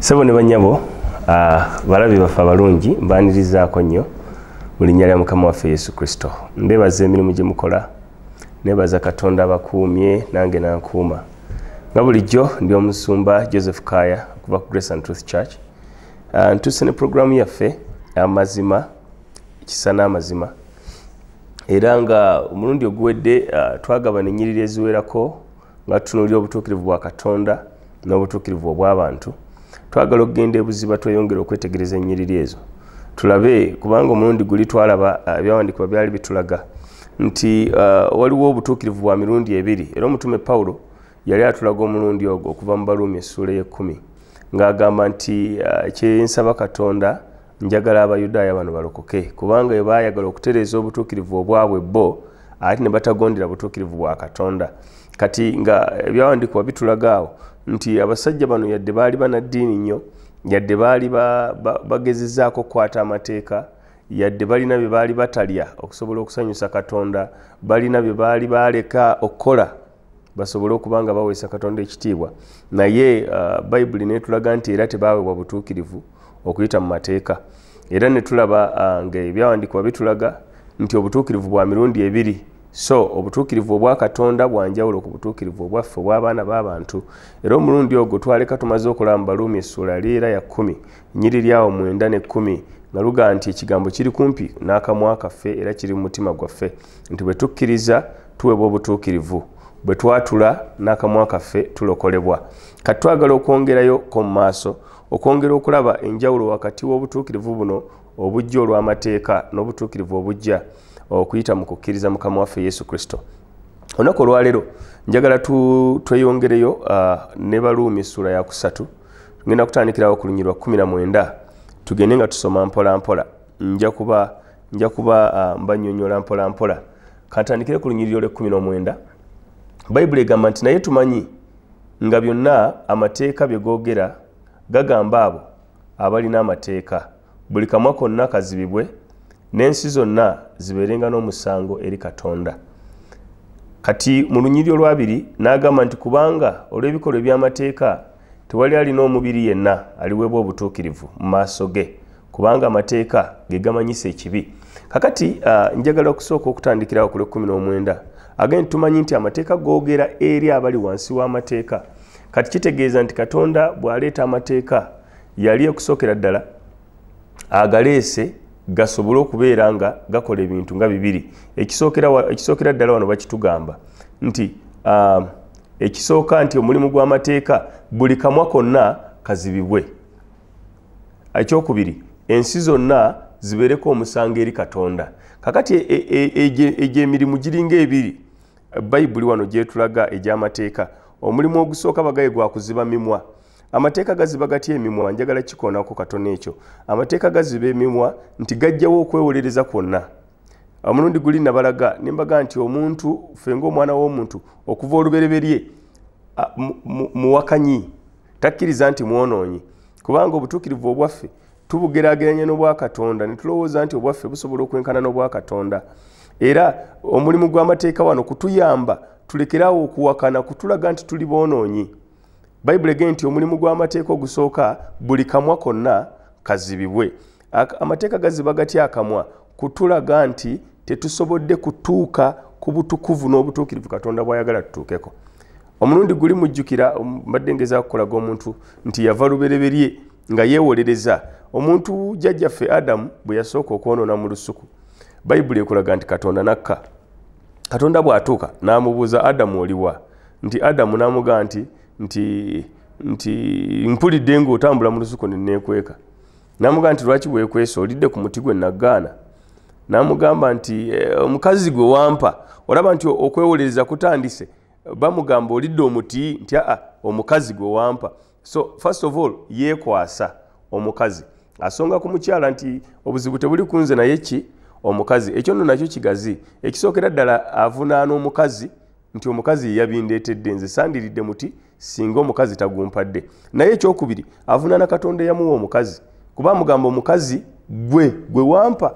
sebo ne banyabo ah, balabi baffe abalungi mbanirizaako nnyo mu linnya lya mukama waffe yesu kristo mbebaza emirimu gye mukola nebaza katonda abakuumye nange nankuuma nga bulijjo ndi omusumba joseph kaya okuva ku grace and truth church ah, ntuuse ne programu yaffe amazima kisa n'amazima era nga omulundi oguwedde ah, twagabana enyiriri eziwerako nga tutunuulira obutuukirivu bwa katonda n'obutuukirivu obw'abantu twagala okugenda ebuziba tweyongere okwetegereza ennyiriri ezo tulabe kubanga omulundi guli twalaba uh, ebyawandiikibwa byali bitulaga nti uh, waliwo obutuukirivu bwa mirundi ebiri era omutume pawulo yali atulaga omulundi ogwo okuva mu baluumi essuula y'ekkumi ng'agamba nti uh, kyensaba katonda njagala abayudaaya bano balokoke kubanga bwe baayagala okutereeza obutuukirivu obwabwe bo ate ne batagondera butuukirivu bwa katonda kati nga ebyawandiikibwa bitulaga awo nti abasajja bano yadde baali banaddiini nnyo yadde baali bagezezaako okukwata amateeka yadde balina bye baali batalya okusobola okusanyusa katonda balina bye baali baaleka okukola basobole okuba nga baweesa katonda ekitiibwa naye uh, bayibuli netulaga nti era tebaawebwa butuukirivu okuyita mu mateeka era netulaba uh, nga ebyawandiikibwa bitulaga nti obutuukirivu bwa mirundi ebiri so obutuukirivu obwa katonda bwanjawulo ku butuukirivu obwaffe obw'abaana b'abantu era omulundi ogwo twaleka tumaze okulaba mu baluumi essuula liera ya kkumi nyiri lyawo mwenda ne kkumi nga luga nti ekigambo kiri kumpi n'akamwa kaffe era kiri mu mutima gwaffe nti bwe tukkiriza tuweebwa obutuukirivu bwe twatula n'akamwa kaffe tulokolebwa kati twagala okwongerayo ko mu maaso okwongera okulaba enjawulo wakati w'obutuukirivu buno obujja olw'amateeka n'obutuukirivu obujja okuyita mu kukkiriza mukama waffe yesu kristo olunaku olwaleero njagala tweyongereyo uh, ne baluumi essuula yakusatu tugenda kutandikirawo ku lunyirwa 19 tugende nga tusoma mpolampola nja kuba nja kuba ah, mbanyonyola mpola mpola kantandikire ku lunyiriri olw'ekkumi n'omwenda bayibuli egamba nti naye tumanyi nga byonna amateeka bye googera gagamba abo abalina amateeka buli kamwa konna kazibibwe n'ensi zonna zibeerenga n'omusango eri katonda kati mu lunyiriri olwabiri n'agamba nti kubanga olw'ebikolwa eby'amateeka tewali alina omubiri yenna aliweebwa obutuukirivu mu maaso ge kubanga amateeka ge gamanyisa ekibi kakati uh, njagala okusooka okutandikirawo ku lwekumi n'omwenda agenti tumanyi nti amateeka googera eri abali wansi w'amateeka kati kitegeeza nti katonda bw'aleeta amateeka yali okusookera ddala agaleese gasobole okubeera nga gakola ebintu nga bibiri ekisookera ddala wano bakitugamba nti uh, ekisooka nti omulimu gw'amateeka buli kamwa konna kazibibwe ekyokubiri ensi zonna zibeereko omusango eri katonda kakati egyemirimu e, e, e, giringa ebiri bayibuli wano gyetulaga egy'amateeka omulimu ogusooka bagaye gwa kuziba mimwa amateeka gaziba gatya emimwa njagala kikoonako katono ekyo amateeka gaziba emimwa nti gajjawo okwewolereza kwonna omulundi guli nabalaga nembaga nti omuntu fenga omwana w'omuntu okuva olubereberye muwakanyi takkiriza nti mwonoonyi kubanga obutuukirivu obwaffe tubugerageranya n'obwakatonda ne tulowooza nti obwaffe busobola okwenkana n'obwakatonda era omulimu gw'amateeka wano kutuyamba tulekeraawo okuwakana kutulaga nti tuli boonoonyi bayibuli ege nti omulimu gw'amateeka ogusooka buli kamwa konna kazibibwe amateeka gaziba gati akamwa kutulaga nti tetusobodde kutuuka ku butukuvu n'obutuukirivu katonda bwayagala tutuukeko omulundi guli mujjukira um, mbadde ngeza okukolaga omuntu nti yava lubereberye nga yeewolereza omuntu jjajjaffe adamu bwe yasooka okwonoona mu lusuku bayibuli ekulaga nti katonda nakka katonda bw'atuuka n'amubuuza adamu oliwa nti adamu n'amugaa nti nti nti mpulidde ng'otambula mu lusuku ne neekweka namugamba nti lwaki wekwesa olidde ku muti gwe nagaana namugamba nti eh, omukazi gwe wampa olaba nti okwewolereza kutandise bamugamba olidde omuti nti aa omukazi gwe wampa so first of all yekwasa omukazi asonga ku mukyala nti obuzibu tebuli kunze naye ki omukazi ekyo nno nakyo kigazi ekisookera ddala avunaana omukazi nti omukazi yeyabindeetedde nze sandiridde muti singa omukazi tagumpadde naye ekyokubiri avunaana katonda eyamuwa omukazi kuba amugamba omukazi gwe gwe wampa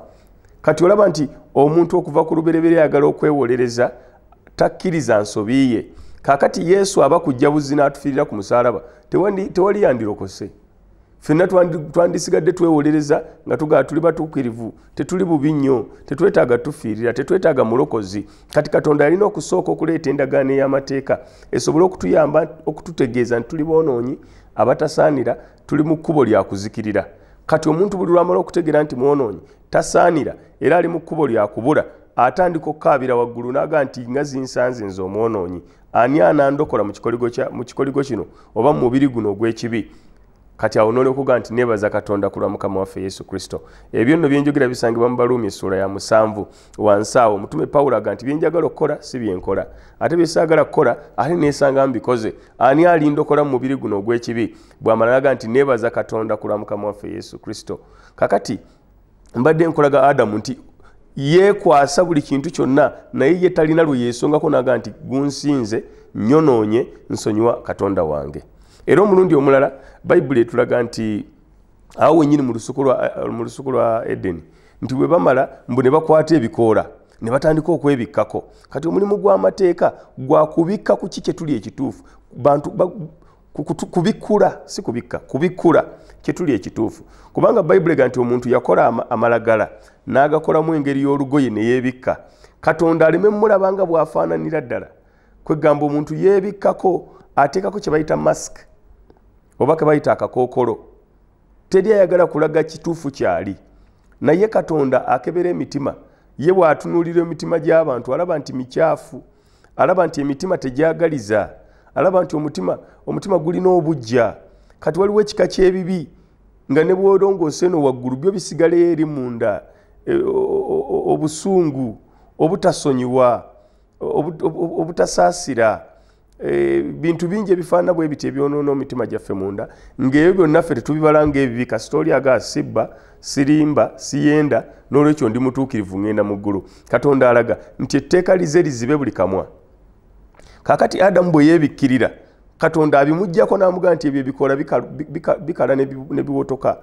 kati olaba nti omuntu okuva ku lubereberye ayagala okwewolereza takkiriza nsobi ye kakati yesu aba kujja buzzi n'atufiirira ku musaalaba tewali yandirokose fenna twandisigadde twewolereza nga tugaa tuli batuukirivu tetuli bubi nnyo tetwetaaga tufiirira tetwetaaga mulokozi kati katonda yalina okusooka okuleeta endagaano ey'amateeka esobole okutuyamba okututegeeza nti tuli boonoonyi abatasaanira tuli mu kkubo lya kuzikirira kati omuntu buli lwamala okutegeera nti mwonoonyi tasaanira era ali mu kkubo lya kubula atandika okukaabira waggulu naaga nti nga zinsanze nze omwonoonyi ani anandokola mu kikoligo kino oba mu mubiri guno ogw'ekibi kati awo nolyoka ogaa nti nebaza katonda kulwa mukama waffe yesu kristo ebyo nno byenjogera bisangibwa mu baluumi essuula ya musanvu wansi awo omutume pawulo aga nti byenjagala okukola si byenkola ate byesaagala kukola ate nesanga mbikoze ani alindokola mu mubiri guno ogw'ekibi bwamala naga nti nebaza katonda kulwa mukama waffe yesu kristo kakati mbadde nkolaga adamu nti yeekwasa buli kintu kyonna naye ye talina lwe yeesongako naga nti gunsinze nyonoonye nsonyiwa katonda wange era omulundi omulala bayibuli etulaga nti awo wenyini mu lusuku lwa edeni nti bwe bamala mbu ne bakwata ebikoola ne batandika okwebikkako kati omulimu gw'amateeka gwa kubikka ku ki kyetuli ekituufu bantu kubikula si kubikka kubikula kyetuli ekituufu kubanga bayibuli ga nti omuntu yakola amalagala n'agakolamu engeri y'olugoye ne yeebikka katonda aleme mumulaba nga bw'afaananira ddala kwegamba omuntu yeebikkako ateekako kye bayita mask oba ke bayita akakookolo teri ayagala kulaga kituufu kyali naye katonda akebera emitima ye bw'atunuulira emitima gy'abantu alaba nti mikyafu alaba nti emitima tegyagaliza alaba nti omutima omutima gulina obujja kati waliwo ekika kyebibi nga ne bwolongoosa eno waggulu byo bisigaleyo eri munda e, obusungu obutasonyiwa obutasaasira e, bintu bingi ebifaanana bwe biti ebyonoona omitima gyaffe munda ngaebyo byonna ffe tetubibala ngaebibi kasita oli aga sibba sirimba siyenda n'olwekyo ndi mutuukirivu ngenda mu ggulu katonda alaga nti etteeka lize lizibe buli kamwa kakati adamu bwe yeebikkirira katonda abimugjako n'amugaa nti ebyo ebikola bikala ne biwotoka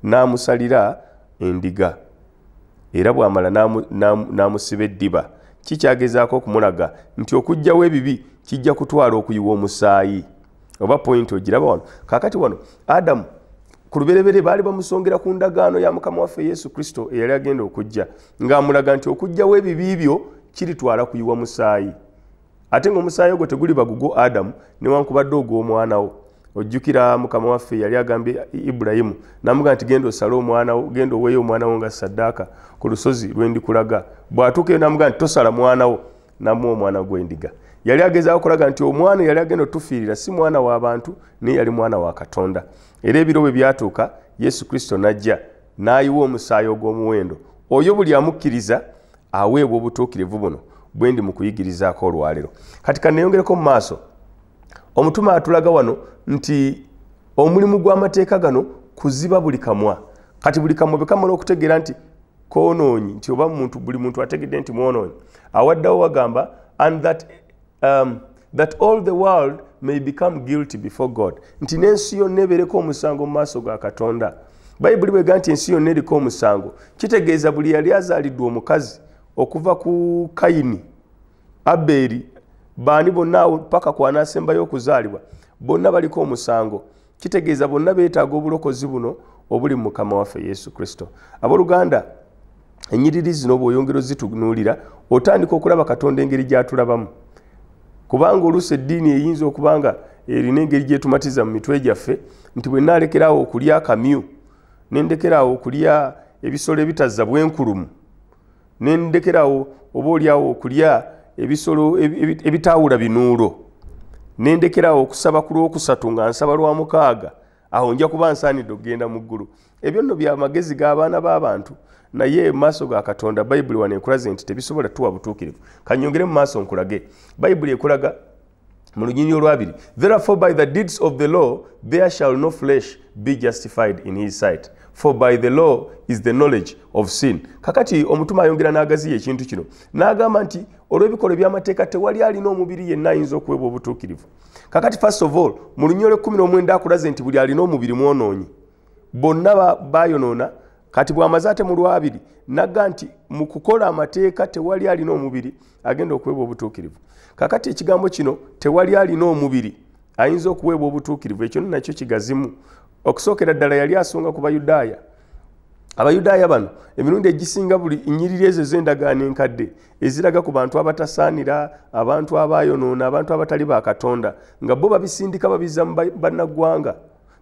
n'amusalira endiga era bw'amala n'amusiba eddiba kikyagezaako okumulaga nti okugjawo ebibi kijja kutwala okuyiwa omusaayi oba point ogiraba wano kakati wano adamu ku lubereberye baali bamusongera ku ndagaano ya mukama waffe yesu kristo eyali agenda okujja ng'amulaga nti okujjawo ebibi byo kiritwala kuyiwa musaayi ate ngaomusaayi ogwo teguli bagugwo adamu newankubadde ogw'omwana wo ojjukira mukama waffe yali agambye ibulayimu namuga nti genda osale omwana wo genda oweeyo omwana wo nga saddaaka ku lusozi lwendikulaga bw'atuukeyo namuga nti tosala mwana wo namuwa omwana gw'endiga yali ageza okulaga nti omwana yali agenda otufiirira si mwana wa bantu naye yali mwana wa katonda era ebiro bwe byatuuka yesu kristo n'ajja n'ayiwa omusaayi ogw'omuwendo oyo buli amukkiriza aweebwa obutuukirivu buno bwe ndi mu kuyigirizaako olwaleero kati kaneyongereko mu maaso omutume atulaga wano nti omulimu gw'amateeka gano kuziba buli kamwa kati buli kamwa bwe kamala okutegeera nti konoonyi nti oba muntu buli muntu ategedde nti mwonoonyi awaddawo wagamba and that, um, that all the world may become guilty before god nti n'ensi yonna ebeereko omusango mu maaso ga katonda bayibuli bwega nti ensi yonna eriko omusango kitegeeza buli yali azaalidwa omukazi okuva ku kayini abeeri baani bonna paka kwanaasembayo okuzaalibwa bonna baliko omusango kitegeeza bonna beetaaga obulokozi buno obuli mu mukama waffe yesu kristo abooluganda enyiriri zino bw'oyongera ozitunuulira otandika okulaba katonda engeri gy'atulabamu kubanga oluusi eddiini eyinza okuba nga erina engeri gyetumatiza mu mitwe gyaffe nti bwe naalekerawo okulya akamyu nendekeraawo okulya ebisolo ebitazza bwenkulumu ne ndekerawo oba olyawo okulya ebisolo ebitaawula binuulo ne ndekerawo okusaba ku lwokusatu nga nsaba lwa mukaaga awo nja kuba nsaanidde okugenda mu ggulu ebyo nno bya magezi g'abaana b'abantu naye maaso ga katonda bayibuli wano ekulaze nti tebisobola tuwa butuukirivu kanyongere mu maaso nkulage bayibuli ekulaga mu lunyinyi olwabiri therefore by the deeds of the law there shall no flesh be justified in his sight for by the law is the knowledge of sin kakati omutume ayongera n'agaziya ekintu kino n'agamba nti olw'ebikolwa eby'amateeka tewali alina omubiri yenna ayinza okuweebwa obutuukirivu kakati first of all mu lunyolo ekkumi n'omwenda akulaze nti buli alina omubiri mwonoonyi bonna bayonoona kati bwamaze ate mu lwabiri nagga nti mu kukola amateeka tewali alina omubiri agenda okuweebwa obutuukirivu kakati ekigambo kino tewali alina omubiri ayinza okuweebwa obutuukirivu ekyo nakyo kigazimu okusookera ddala yali asonga ku bayudaaya abayudaaya bano emirundi egisinga buli nyiriri ezo ez'endagaano enkadde eziraga ku bantu abatasaanira abantu abayonoona abantu abatali ba katonda nga bo babisindika babiza mu bannaggwanga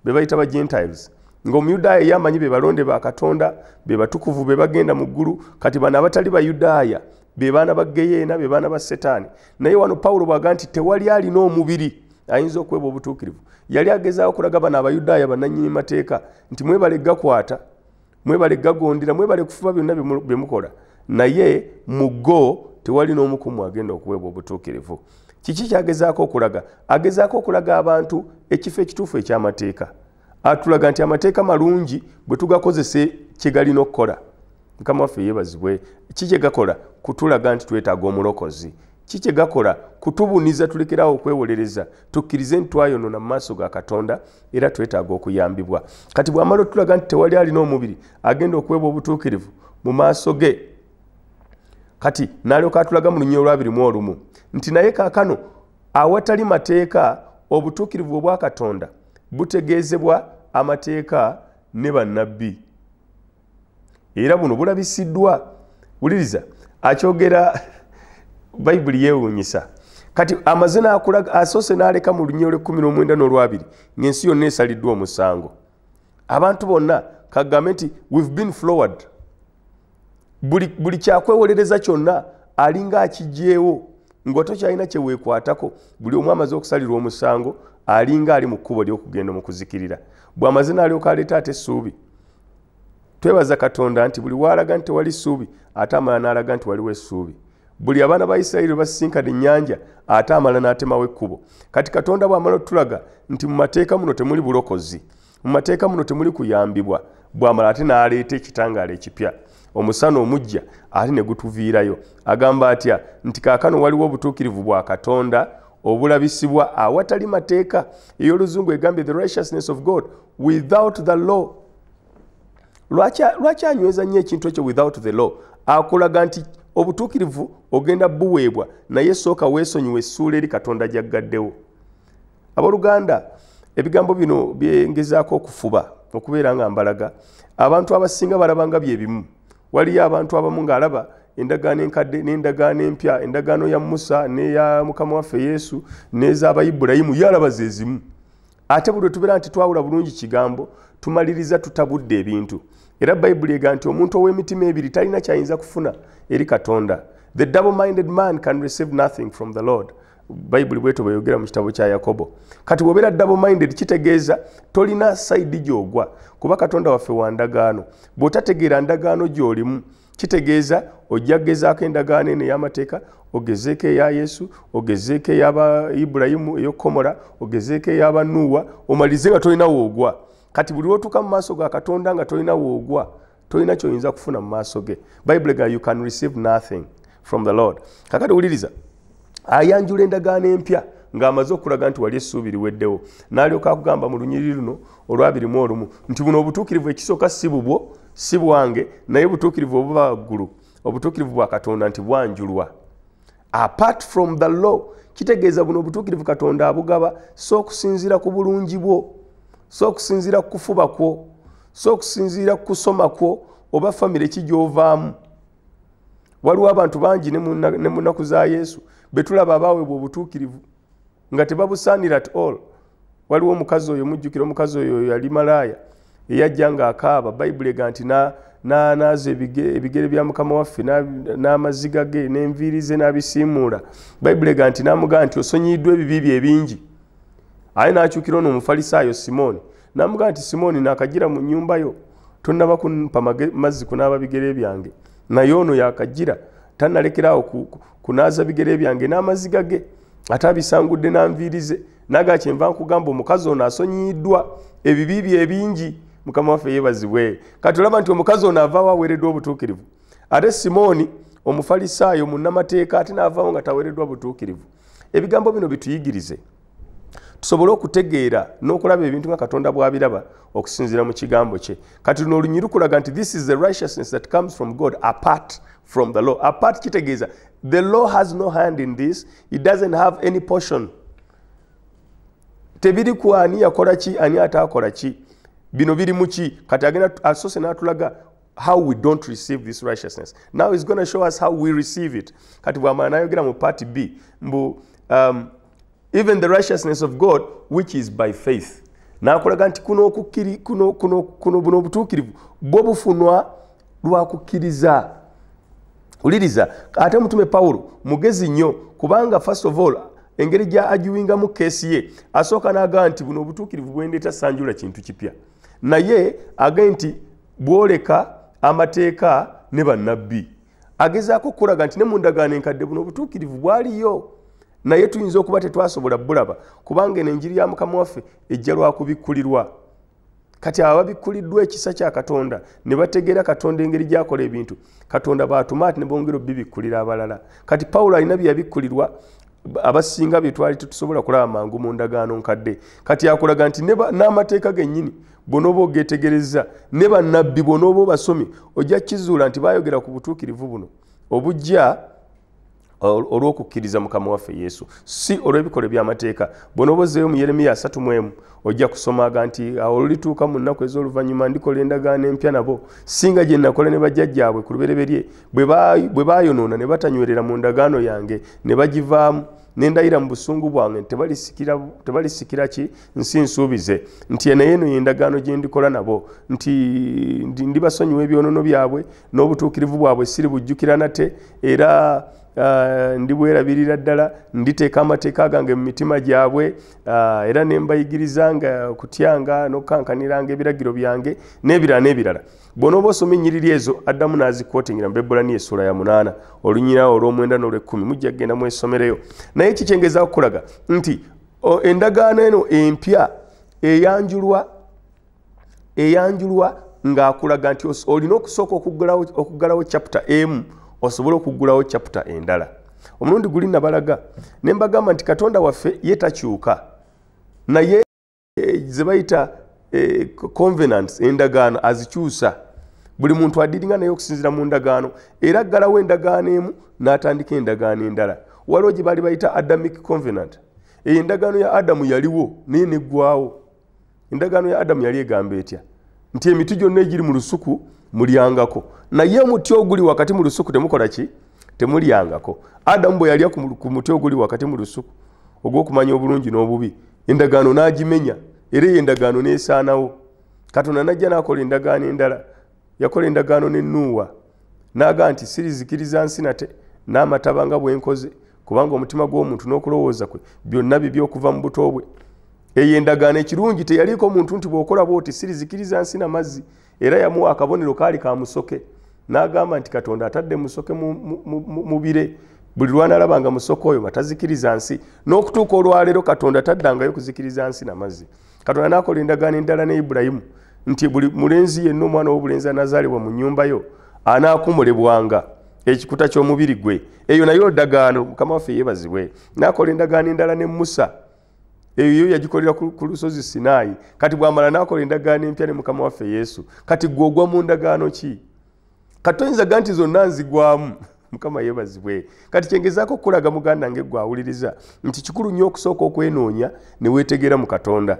be bayita ba gentiles ngaomuyudaaya ye amanyi be balonde ba katonda be batukuvu be bagenda mu ggulu kati bano abatali bayudaaya be baana ba geyeena be baana ba setaani naye wano pawulo bwaga nti tewali alina omubiri ayinza okweba obutuukirivu yali agezaako kulaga bano abayudaaya bananyini mateeka nti mwebale gakwata mwebale gagondera mwebale kufuba byonna bye mukola naye mu go tewali n'omu ku mwe agenda okuweebwa obutuukirivu kiki kyagezaako okulaga agezaako okulaga abantu ekifo ekituufu eky'amateeka atulaga nti amateeka malungi bwe tugakozesa kyegalina okukola mukama waffe yebazibwe ki kyegakola kutulaga nti twetaaga omulokozi ki kyegakola kutubuniza tulekerawo okwewolereza tukkirize nti twayonona mu maaso ga katonda era twetaaga okuyambibwa kati bwamala otulaga nti tewali alina omubiri agenda okuweebwa obutuukirivu mu maaso ge kati nalyoka atulaga mu lunyio olwabiri mu olumu nti naye kakano awatali mateeka obutuukirivu obwakatonda butegeezebwa amateeka ne bannabbi era buno bulabisiddwa wuliriza akyogera bayibuli yeewuunyisa kati amaze nakulaga asoose n'aleka mu lunya olwekumi n'omwenda n'olwabiri ng'ensi yonna esaliddwa omusango abantu bonna kagambe nti we've been floward buli, buli kyakwewolereza kyonna alinga akigyewo nga tokyalina kyeweekwatako buli omu amaze okusalirwa omusango alinga ali mu kkubo ly'okugenda mu kuzikirira bw'amaze n'alyoka aleeta ate essuubi twebaza katonda nti buli waalaga nti tewali ssuubi ate amala n'alaga nti waliwo essuubi buli abaana ba isirayiri basisinkana ennyanja ate amala n'atemawo ekkubo kati katonda bw'amala otulaga nti mu mateeka muno temuli bulokozi mu mateeka muno temuli kuyambibwa bw'amala ate n'aleeta ekitangaala ekipya omusana omujja ate ne gutuviirayo agamba atya nti kaakano waliwo obutuukirivu bwa katonda obulabisibwa awatali mateeka ey'oluzungu egambye the righteousness of god without the law lwaki anyweza nnyo ekintu ekyo without the law akulaga nti obutuukirivu ogenda buweebwa naye sooka weesonyiwa essuula eri katonda gyaggaddewo abooluganda ebigambo bino byengezaako okufuba okubeera nga mbalaga abantu abasinga balabanga bye bimu waliyo abantu abamu ng'alaba endagaano enkadde n'endagaano empya endagaano ya musa n'eya mukama waffe yesu n'ez'abayibulayimu yalaba ze zimu ate buli lwetubeera nti twawula bulungi kigambo tumaliriza tutabudde ebintu era bayibuli ega nti omuntu ow'emitima ebiri talina kyayinza kufuna eri katonda the double minded man can receive nothing from the lord bayibuli bweto bweyogera mu kitabo kya yakobo kati bwobeera double minded kitegeeza tolina saidi gyogwa kuba katonda waffe wa ndagaano bw'otategeera ndagaano gy'olimu kitegeeza ojja kugezaako endagaano eno ey'amateeka ogezeeko eya yesu ogezeeko eyaba ibulayimu eyokukomola ogezeeko eyaba nuuwa omalize nga tolina woogwa kati buli lwotuuka mu maaso ga katonda nga tolina woogwa tolina kyoyinza kufuna mu maaso ge bayibuli ga you can receive nothing from the lord kakati wuliriza ayanjula endagaano empya ng'amaze okulaga nti wali essuubi liweddewo n'alyoka akugamba mu lunyiriri luno olwabirimu olumu nti buno obutuukirivu ekisooka si bubwo si bwange naye obutuukirivu obuba waggulu obutuukirivu bwa katonda nti bwanjulwa apart from the law kitegeeza buno obutuukirivu katonda abugaba si okusinziira ku bulungi bwo si okusinziira ku kufuba kwo si okusinziira ku kusoma kwo oba famire ki gy'ovaamu waliwo abantu bangi ne mu nnaku za yesu betulaba abaawebwa obutuukirivu nga tebabusaanira at all waliwo omukazi oyo mujjukira omukazi oyo yali malaaya eyajja nga akaaba bayibuli ega nti nanaaza ebigere bya mukama waffe n'amaziga ge n'enviiri ze n'abisiimuula bayibuli ega nti namugaa nti osonyiyiddwa ebibi bye ebingi aye n'akyukira ono omufalisaayo simooni namugamba nti simooni nakajira mu nyumba yo tonaba kunpa mazzi kunaaba bigere byange naye ono yakajira tanalekeraawo kunaaza bigere byange n'amazzi gage ate abisangudde nanviirize naga kyenva nkugamba omukazi ono asonyiyiddwa ebibi bye ebingi mukama waffe yebazibwe kati olaba nti omukazi ono avaawo aweereddwa obutuukirivu ate simooni omufalisaayo munnamateeka ate naavaawo nga taweereddwa butuukirivu ebigambo bino bituyigirize tusobole okutegeera n'okulaba ebintu nga katonda bw'abiraba okusinziira mu kigambo kye kati luno olunyiri kulaga nti this is the righteousness that comes from god apart from the law apart kitegeeza the law has no hand in this it doesn't have any portion tebiri ku ani yakola ki ani ataakola ki bino biri muki kati agenda asose natulaga how we don't receive this righteousness now is gonna show us how we receive it kati bwamala nayogera mu part b mbu um, even the righteousness of god which is by faith nakulaga nti kuno okukiri kuno kuno kuno buno obutuukirivu bwo bufunwa lwa kukkiriza uliriza ate omutume pawulo mugezi nnyo kubanga first of all engeri gya agiwingamu keesi ye asooka n'agaa nti buno obutuukirivu bwendeeta sanjula kintu kipya naye agae nti bwoleka amateeka ne bannabbi agezaako okukulaga nti ne mu ndagaano enkadde buno obutuukirivu bwaliyo naye tuyinza okuba tetwasobola bulaba kubanga eno enjiri ya mukama waffe ejja lwakubikkulirwa kati abo ababikkuliddwa ekisa kya katonda ne bategeera katonda engeri gyakola ebintu katonda baatuma ati ne bongera obibikkulira abalala kati pawulo alina bye yabikkulirwa abasinga bye twali tetusobola kulaba mangu mu ndagaano nkadde kati akulaga nti n'amateeka gennyini bwonooba ogetegerezza ne bannabbi bwonooba obasomye ojja kizuula nti bayogera ku butuukirivu buno obujja olw'okukkiriza mukama waffe yesu si olw'ebikolwa eby'amateeka bona obozeeyo mu yeremiya 31 ojja kusomaga nti awo olulituuka mu nnaku ez'oluvannyuma ndikola endagaano empya nabo singa gye nakola ne bajjajjaabwe ku lubereberye bwe baayonoona ne batanywerera mu ndagaano yange ne bagivaamu nendayira mu busungu bwange tebalisikira ki nsi nsuubize nti enaye eno yendagaano gye ndikola nabo nti ndibasonyiwa ebyonono byabwe n'obutuukirivu bwabwe siri bujjukira nate era ah, ndibwerabirira ddala nditeeka amateeka gange mu mitima gyabwe ah, era ne mbayigiriza nga okutyanga n'okukankaniranga ebiragiro byange n'ebirala n'ebirala bwonooba osoma ennyiriri ezo addamu n'azikwotingira mu bebbulani esuula ya munaana olunyirawo olw'omwenda n'olwekkumi mujja kugenda mwesomereyo naye kikyengezaakukulaga nti endagaano eno empya eyanjulwa eyanjulwa ng'akulaga nti olina okusooka okuggalawo chapita emu osobole okuggulawo chapita endala omulundi guli nabalaga ne mbagamba nti katonda waffe ye takyuka naye eh, ze bayita eh, convenants endagaano azikyusa buli muntu adiringa naye okusinzira mu ndagaano era aggalawo endagaano emu n'atandika endagaano endala waliwo gye baali bayita adamic convenant eyo endagaano ya adamu yaliwo naye neggwawo endagaano ya adamu yali egamba etya nti emiti gyonna egiri mu lusuku mulyangako naye omuti oguli wakati mu lusuku temukola ki temulyangako adamu bwe yalya ku muti oguli wakati mu lusuku ogw'okumanya obulungi n'obubi endagaano n'agimenya era eyo endagaano nesaanawo katonda najja nakola endagaano endala yakola endagaano ne nuuwa naaga nti sirizikiriza nsi nate n'amataba nga bwenkoze kubanga omutima gw'omuntu n'okulowooza kwe byonna bibi okuva mu buto bwe eyo endagaano ekirungi teyaliiko muntu nti bwokola bwoti sirizikiriza nsi na mazzi era yamuwa akabonero kaali ka musoke n'agamba nti katonda atadde musoke mu bire buli lwanalaba nga musoke oyo nga tazikiriza nsi n'okutuuka olwaleero katonda taddangayo kuzikiriza nsi na mazzi katonda n'akola endagaano endala ne ibulayimu nti buli mulenzi yenna omwana w'obulenzi anazaalibwa mu nnyumba yo anaakumulebwanga ekikuta ky'omubiri gwe eyo nayo ndagaano mukama waffe yeebazibwe n'akola endagaano endala ne musa eyo yagikolera ku lusozi sinaayi kati bwamala nakola endagaano empya ne mukama waffe yesu kati gwe ogwa mu ndagaano ki kati toyinza ga nti zonna nzigwamu mukama yebazibwe kati kyengezaako okukulaga muganda nge gwe awuliriza nti kikulu nnyo okusooka okwenoonya ne weetegeera mu katonda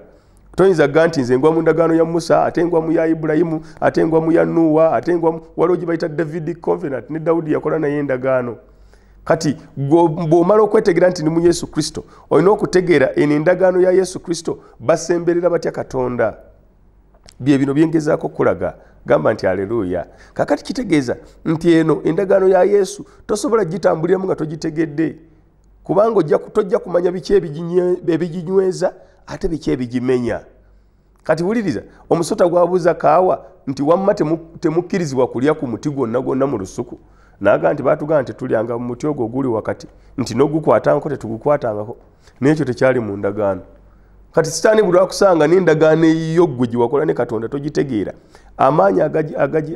toyinza ga nti nze ngwa mu ndagaano ya musa ate ngwa mu ya ibulayimu ate ngwa mu ya nuuwa ate ngwa waliwo gye bayita david convenant ne dawudi yakola naye endagaano kati bw'omala okwetegeera nti ni mu yesu kristo olina okutegeera eno endagaano ya yesu kristo basemberera batya katonda bye bino byengezaako okulaga gamba nti aleluuya kakati kitegeeza nti eno endagaano ya yesu tosobola gitambuliramu nga togitegedde kubanga tojja kumanya biki ebiginyweza ate biki ebigimenya kati wuliriza omusota gwabuuza kaawa nti wamma temukkirizibwa kulya ku muti gwonna gwonna mu lusuku naga nti batugaa nti tulyanga mu muti ogwo oguli wakati nti nogukwatangako tetugukwatangako nekyo tekyali mu ndagaano kati sitaani buli wakusanga nendagaano eyiyo ggwe gyewakola ne katonda togitegeera amaanyi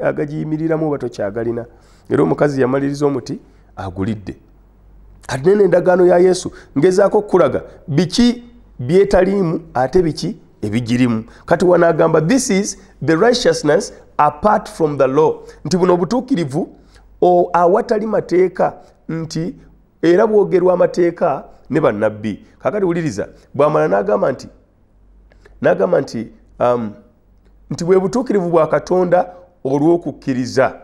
agagiyimiriramu oba tokyagalina era omukazi yamaliriza omuti agulidde kati nene endagaano ya yesu ngezaako okukulaga biki byetaliimu ate biki ebigirimu kati wanaagamba this is the righteousness apart from the law nti buno obutuukirivu awatali mateeka nti era bwogerwa amateeka ne bannabbi kakati wuliriza bwamala n'agamba nti n'agamba nti um, nti bwe butuukirivu bwa katonda olw'okukkiriza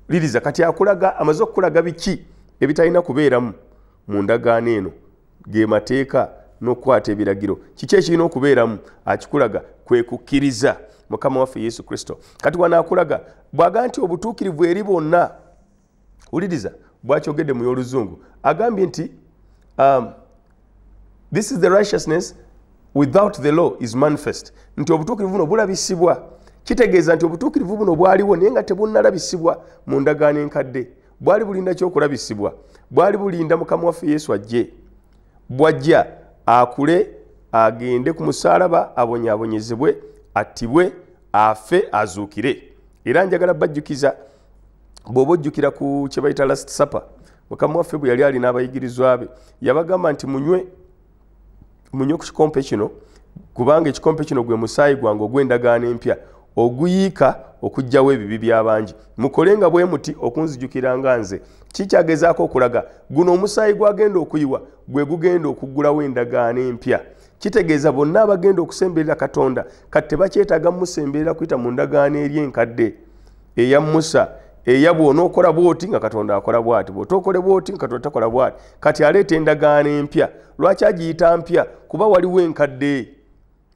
liriza kati akulaga amaze okukulaga biki ebitalina kubeeramu mu ndagaano eno ge mateeka n'okukwata ebiragiro kiki ekirina okubeeramu akikulaga kwe kukkiriza mukama waffe yesu kristo kati wanaakulaga bwaga nti obutuukirivu eri bonna wuliriza bwakyogedde mu y'oluzungu agambye nti um, this is the righteousness without the law is manifest nti obutuukirivu buno bulabisibwa kitegeeza nti obutuukirivu buno bwaliwo naye nga tebunnalabisibwa mu ndagaano enkadde bwali bulinda kyokulabisibwa bwali bulinda mukama waffe yesu ajje bwajja akule agende ku musaalaba abonyabonyezebwe attibwe afe azuukire era njagala bajjukiza bw'oba ojjukira ku kye bayita last supper mukama waffe bwe yali alina abayigirizwa be yabagamba nti munywe munywe ku kikompe kino kubanga ekikompe kino gwe musaayi gwange ogw'endagaano empya oguyiika okugjawo ebibi by'abangi mukole nga bwe muti okunzijukira nga nze kikyagezaako okulaga guno omusaayi gwagenda okuyiwa gwe gugenda okuggulawo endagaano empya kitegeeza bonna abagenda okusemberera katonda kati tebakyetaaga musemberera kuyita mu ndagaano eri enkadde eya musa eya bwona okola bwoti nga katonda akola bwati bwoti okole bwoti nga katonda takola bwati kati aleeta endagaano empya lwaki agiyita mpya kuba waliwo enkadde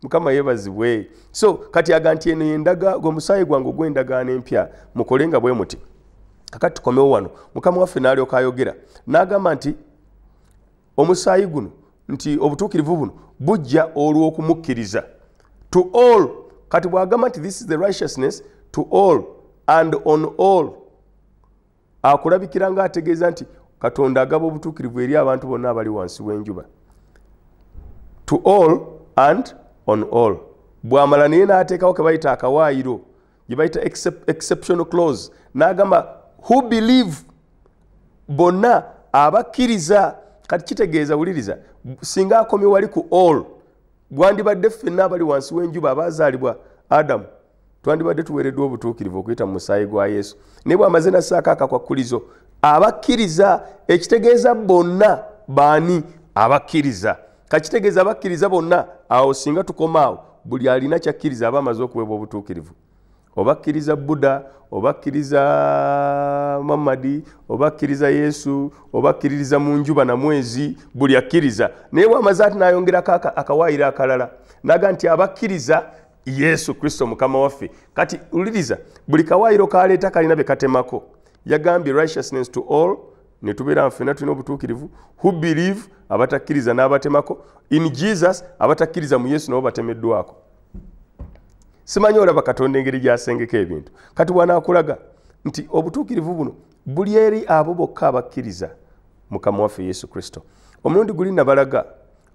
mukama yebazibwe so kati aga nti eno yendaga gwe musaayi gwange ogw'endagaano empya mukole nga bwe muti kakati tukomewo wano mukama waffe n'alyoka ayogera n'agamba nti omusaayi guno nti obutuukirivu buno bujja olw'okumukkiriza to all kati bw'agamba nti this is the righteousness to all and on all akulabikira nga ategeeza nti katonda agaba obutuukirivu eri abantu bonna abali wansi w'enjuba to all and on all bw'amala naye n'ateekawo ke bayita akawaayiro gye bayita exceptional clause n'agamba who believe bonna abakkiriza kati kitegeeza wuliriza singa akomye wali ku all gwandibadde ffenna abali wansi w'enjuba abaazaalibwa adamu twandibadde tuweereddwa obutuukirivu okuyita mu musaayi gwa yesu naye bwamaze nassaako akakwakkulizo abakkiriza ekitegeeza bonna baani abakkiriza kakitegeeza abakkiriza bonna awo singa tukomaawo buli alina kyakkiriza aba amaze okuweebwa obutuukirivu obakkiriza buddha obakkiriza muhammadi obakkiriza yesu obakkiririza mu njuba na mwezi buli akkiriza naye bwamaze ati nayongerako akawaayiro akalala naga nti abakkiriza yesu kristo mukama waffe kati uliriza buli kawaayiro kaleeta kalina bye katemako yagambye righteousness to all ne tubeera nfena tulina obutuukirivu who believe abatakkiriza n'abatemako in jesus abatakkiriza mu yesu nabo batemeddwako simanyi olaba katonda engeri gyasengeka ebintu kati wanaakulaga nti obutuukirivu buno buli eri abo bokka abakkiriza mukama waffe yesu kristo omulundi guli nabalaga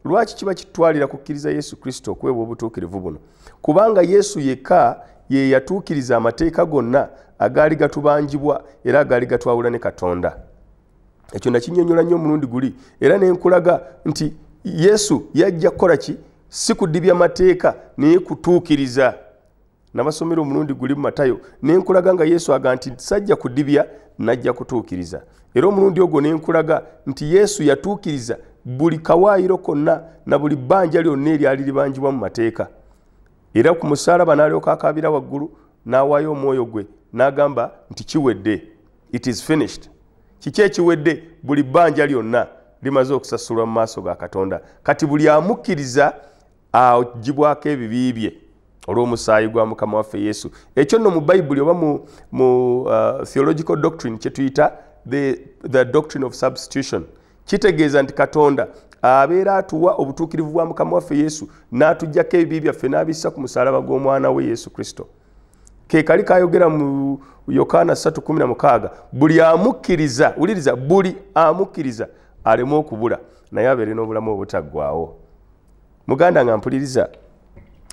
lwaki kiba kitwalira kukkiriza yesu kristo okuweebwa obutuukirivu buno kubanga yesu yekka ye yatuukiriza amateeka gonna agaali gatubanjibwa era agaali gatwawula ne katonda ekyo nakinyonyola nnyo omulundi guli era nenkulaga nti yesu yajja kukola ki si kudibya mateeka naye kutuukiriza nabasomera omulundi guli mu matayo ne nkulaga nga yesu aga nti sajja kudibya najja kutuukiriza era omulundi ogwo ne nkulaga nti yesu yatuukiriza buli kawaayiro konna na buli bbanja lyonna eryali libanjibwa mu mateeka era ku musaalaba n'alyoka akaabira waggulu n'awaayo omwoyo gwe n'agamba nti kiwedde it is finished kiki ekiwedde buli bbanja lyonna limaze okusasulwa mu maaso ga katonda kati buli amukkiriza agibwako ebibi bye olw'omusaayi gwa mukama waffe yesu ekyo nno mu bayibuli oba mu, mu uh, theological doctrine kyetuyita the, the doctrine of substitution kitegeeza nti katonda abeera atuwa obutuukirivu bwa mukama waffe yesu n'atugyako ebibi byaffe n'abissa ku musalaba gw'omwana we yesu kristo kekali kayogera mu yokaana 316 buli amukkiriza wuliriza buli amukkiriza aleme okubula naye abeere n'obulamu obutaggwawo muganda nga mpuliriza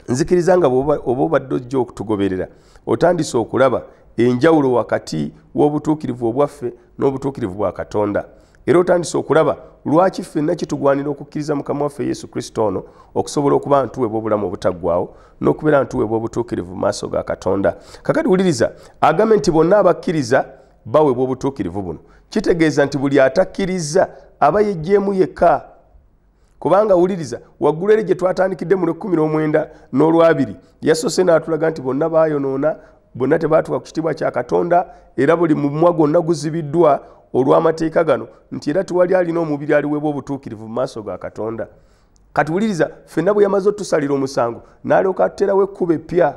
nzikiriza nga oba obadde ojja okutugoberera otandise okulaba enjawulo wakati w'obutuukirivu obwaffe n'obutuukirivu bwa katonda era otandise okulaba lwaki ffenna kitugwanira okukkiriza mukama waffe yesu kristo ono okusobola okuba ntuwebwa obulamu obutaggwawo n'okubeera ntuwebwa obutuukirivu mu maaso ga katonda kakati wuliriza agambe nti bonna abakkiriza bawebwa obutuukirivu buno kitegeeza nti buli atakkiriza aba yejjeemu yekka kubanga wuliriza waggulu eri gye twatandikidde mu lwekumi n'omwenda n'olwabiri yasoose n'atulaga nti bonna baayonoona bonna tebaatuka ku kitiibwa kya katonda era buli mumwa gwonna guzibiddwa olw'amateeka gano nti era tewali alina omubiri aliweebwa obutuukirivu mu maaso ga katonda kati wuliriza ffenna bwe yamaze otusalira omusango n'alyoka atuterawo ekkuba eppya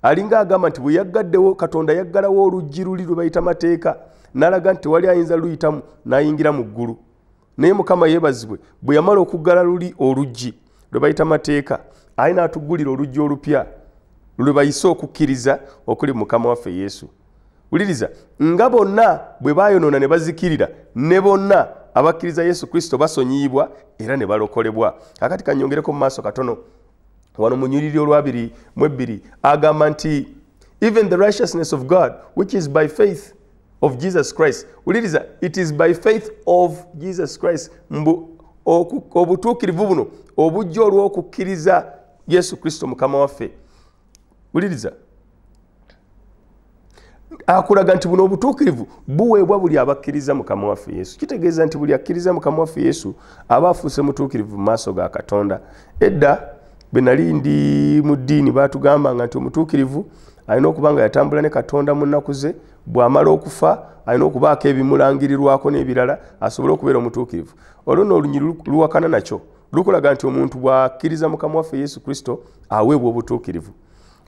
alinga agamba nti bwe yaggaddewo katonda yaggalawo oluggi luli lwe bayita mateeka n'alaga nti tewali ayinza luyitamu n'ayingira mu ggulu naye mukama yebazibwe bwe yamala okuggala luli oluggi lwe bayita mateeka aye n'atuggulira oluggi olupya lwe bayise okukkiriza okuli mukama waffe yesu wuliriza nga bonna bwe bayonoona ne bazikirira ne bonna abakkiriza yesu kristo basonyiyibwa era ne balokolebwa akati kanyongereko mu maaso katono wano munyiriri olwabiri mu ebbiri agamba nti even the righteousness of god which is by faith of jesus christ uliriza it is by faith of jesus christ mbu obutuukirivu buno obujja olw'okukkiriza yesu kristo mukama waffe uliriza akulaga nti buno obutuukirivu buweebwa buli abakkiriza mukama waffe yesu kitegeeza nti buli akkiriza mukama waffe yesu aba afuuse mutuukirivu mu maaso ga katonda edda bwe nali ndi mu ddiini baatugambanga nti omutuukirivu alina okuba nga yatambula ne katonda mu nnaku ze bw'amala okufa alina okubaako ebimulangirirwako n'ebirala asobole okubeera omutuukirivu olwo no olunyiri luwakana nakyo lukulaga nti omuntu bw'akkiriza mukama waffe yesu kristo aweebwa obutuukirivu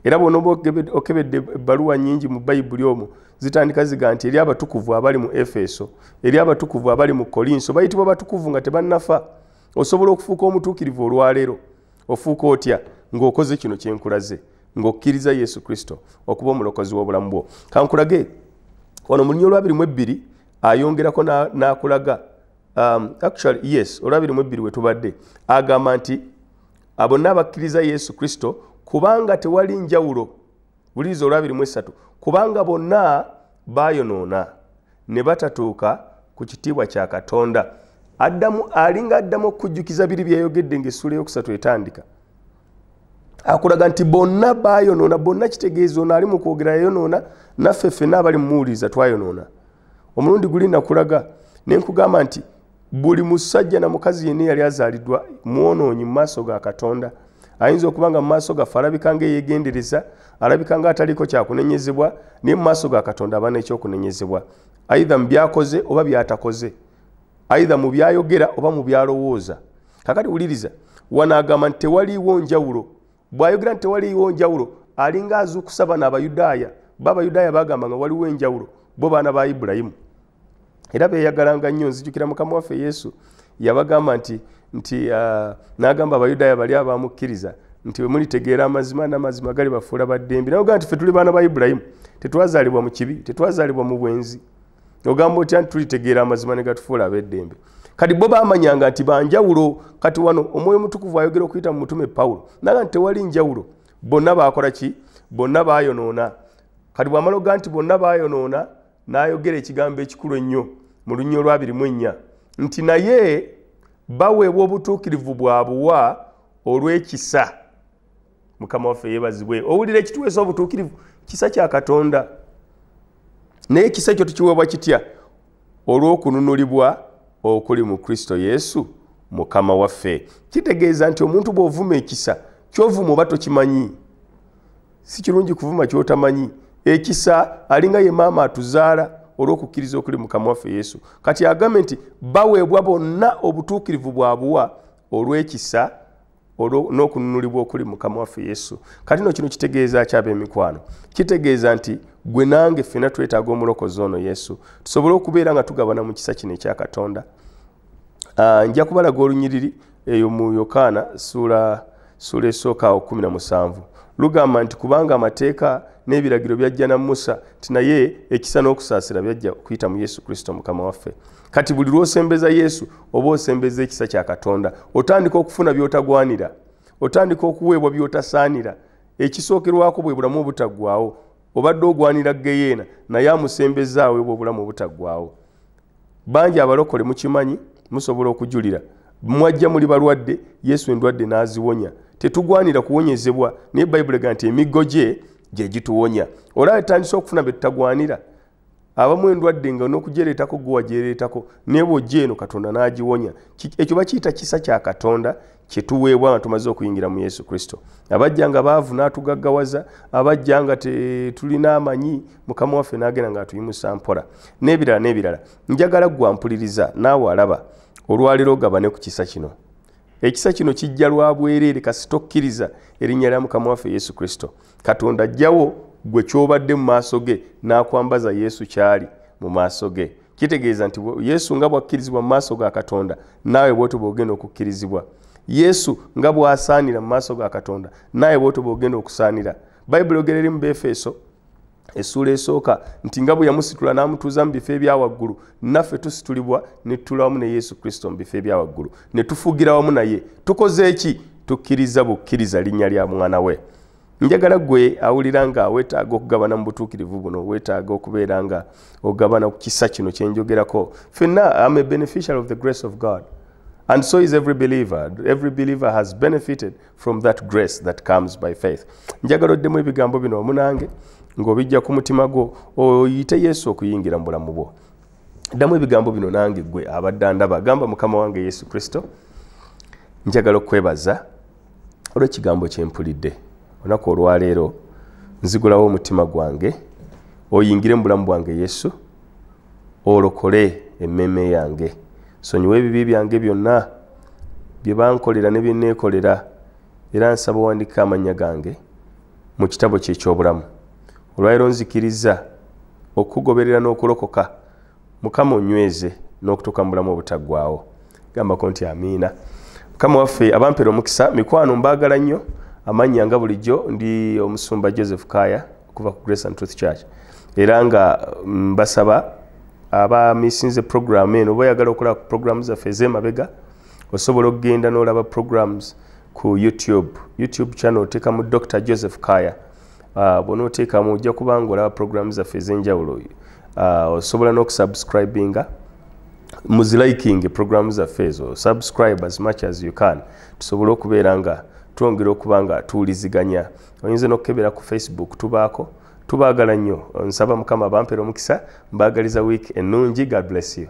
era bwona oba okebedde ebbaluwa nyingi mu bayibuli omwo zitandika ziga nti eri abatukuvu abali mu efeso eri abatukuvu abali mu kolinso bayitibwa batukuvu nga tebannafa osobola okufuuka omutuukirivu olwaleero ofuuka otya ng'okoze kino kyenkulaze ng'okkiriza yesu kristo okuba omulokozi w'obulamu bwo kankulage wano mulinya olwabiri mu ebbiri ayongerako n'akulaga um, actually yes olwabiri mu ebbiri wetubadde agamba nti abonna abakkiriza yesu kristo kubanga tewali njawulo buliriza olwabiri mu esatu kubanga bonna bayonoona ne batatuuka ku kitiibwa kya katonda addamu alinga addamu okujjukiza biri byeyayogedde ngaessuula eyokusatu etandika akulaga nti bonna bayonoona bonna kitegeeza ono ali mu kwogera yayonoona naffe ffena abali mumuwuliriza twayonoona omulundi guli nakulaga ne nkugamba nti buli musajja na mukazi yenna eyali azaalidwa mwonoonyi mu maaso ga katonda ayinza okuba nga mu maaso gaffe alabika nga eyegendereza alabika nga ataliiko kyakunenyezebwa naye mu maaso ga katonda aba nekyokunenyezebwa aidha mu byakoze oba byatakoze aidha mu byayogera oba mu byalowooza kakati wuliriza wano agamba nti tewaliiwo njawulo bw'ayogera nti tewaliiwo njawulo alinga azuukusa bano abayudaaya bo abayudaaya baagamba nga waliwo enjawulo bo baana ba ibulayimu era beeyagalanga nnyo nzijukira mukama waffe yesu yabagamba nti nti uh, n'agamba abayudaaya bali abamukkiriza nti bwe mulitegeera amazima n'amazima gali bafuula baddembi nayogaa nti fe tuli baana ba ibulayimu tetwazaalibwa mu kibi tetwazaalibwa mu bwenzi ogamba otya nti tulitegeera amazima ne gatufuula ab'eddembe kati bo bamanyanga nti banjawulo kati wano omwoyo omutukuvu ayogera okuyita mu mutume pawulo naga nti tewali njawulo bonna baakola ki bonna baayonoona kati bwamala oga nti bonna baayonoona n'ayogera ekigambo ekikulu ennyo mu lunya olwabiri mu ennya nti naye baweebwa obutuukirivu bwa buwa olw'ekisa mukama waffe yebazibwe owulira ekituweesa obutuukirivu kisa kya katonda naye ekisa ekyo tukiweebwa kitya olw'okununulibwa okuli mu kristo yesu mukama waffe kitegeeza nti omuntu bw'ovuma ekisa kyovuma oba tokimanyi si kirungi kuvuma kyotamanyi ekisa alinga ye maama atuzaala olw'okukkiriza okuli mukama waffe yesu kati agambe nti baweebwa bonna obutuukirivu bwabuwa olw'ekisa olwo n'okununulibwa okuli mukama waffe yesu kati no kino kitegeeza ki ab'emikwano kitegeeza nti gwe nange ffena twetaaga omulokozi ono yesu tusobole okubeera nga tugabana mu kisa kino ekya katonda ah, nja kubalaga olunyiriri eyo mu yokaana suula suula esooka awo kumi na musanvu lugamba nti kubanga amateeka n'ebiragiro byajja na musa nti naye ekisa n'okusaasira byajja okuyita mu yesu kristo mukama waffe kati buli lwosembeza yesu oba osembeza ekisa kya katonda otandika okufuna byotagwanira otandika okuweebwa byotasaanira ekisookerwako bwe bulamu obutaggwawo obadde ogwanira geyeena naye amusembezaawo ebwo obulamu obutaggwawo bangi abalokole mukimanyi musobola okujulira mwajja muli balwadde yesu endwadde n'aziwonya tetugwanira kuwonyezebwa naye bayibuli ega nti emiggo gye gye gituwonya olaba etandise okufuna bye tutagwanira abamu endwadde nga n'okujereetako gwe wajereetako naye bw'ojja eno katonda n'agiwonya ekyo bakiyita kisa kya katonda kye tuweebwa nga tumaze okuyingira mu yesu kristo abajja nga baavu n'atugaggawaza abajja nga tetulina amanyi mukama waffe n'agenda ng'atuyimusa mpola n'ebirala n'ebirala njagala gwampuliriza naawe alaba olwaleero ogabane ku kisa kino ekisa kino kijja lwa bwereere kasi tokkiriza erinnya lya mukama waffe yesu kristo katonda ajjawo gwe kyobadde mu maaso ge n'akwambaza yesu kyali mu maaso ge kitegeeza nti yesu nga bwakkirizibwa mu maaso ga katonda naawe bwotoba ogenda okukkirizibwa yesu nga bwasaanira mu maaso ga katonda naawe bwotoba ogenda okusaanira bayibuli ogera eri mu befeso essuula esooka nti nga bwe yamusitula n'amutuuza mu bifo ebya waggulu naffe tusitulibwa ne tutula wamu ne yesu kristo mu bifo ebya waggulu ne tufugira wamu naye tukoze ki tukkiriza bukkiriza linnya lya mwana we njagala gwe awulira nga weetaaga okugabana mu butuukirivu buno weetaaga okubeera nga ogabana ku kisa kino kye njogerako fenna am a beneficial of the grace of god and so is every believer every believer has benefited from that grace that comes by faith njagala oddemu ebigambo bino omunange ng'obijja ku mutima gwo oyite yesu okuyingira mu bulamu bwo ddamu ebigambo bino nange gwe abadde ndaba gamba mukama wange yesu kristo njagala okukwebaza olw'ekigambo kye mpulidde olunaku olwaleero nzigulawo omutima gwange oyingire mu bulamu bwange yesu olokole emmeeme yange sonyiwa ebibi byange byonna bye bankolera ne bye neekolera era nsaba owandikka amannya gange mu kitabo kye eky'obulamu olwaliro nzikiriza okukugoberera n'okulokoka mukama onyweze n'okutuuka mu bulamu obutaggwawo gambako nti amiina mukama waffe abampera omukisa mikwano mbaagala nnyo amannya nga bulijjo ndi omusumba joseph kaaya kuva ku grace and truth church era nga mm, mbasaba abamisinze programu eno oba oyagala okola ku programu zaffe ez'emabega osobola okugenda n'olaba programs ku youtube youtube channel oteekamu dr joseph kaya uh, ah, bona oteekamu ojja kuba nga olaba programu zaffe ez'enjawulo uh, osobola n'okusubscribinga muzilikinge programu zaffe ezo subscribe as much as you can tusobole okubeera nga twongera okuba nga tuwuliziganya oyinza nokukebera ku facebook tubaako tubaagala nnyo nsaba mukama bampera omukisa mbaagaliza wiiki ennungi god bless you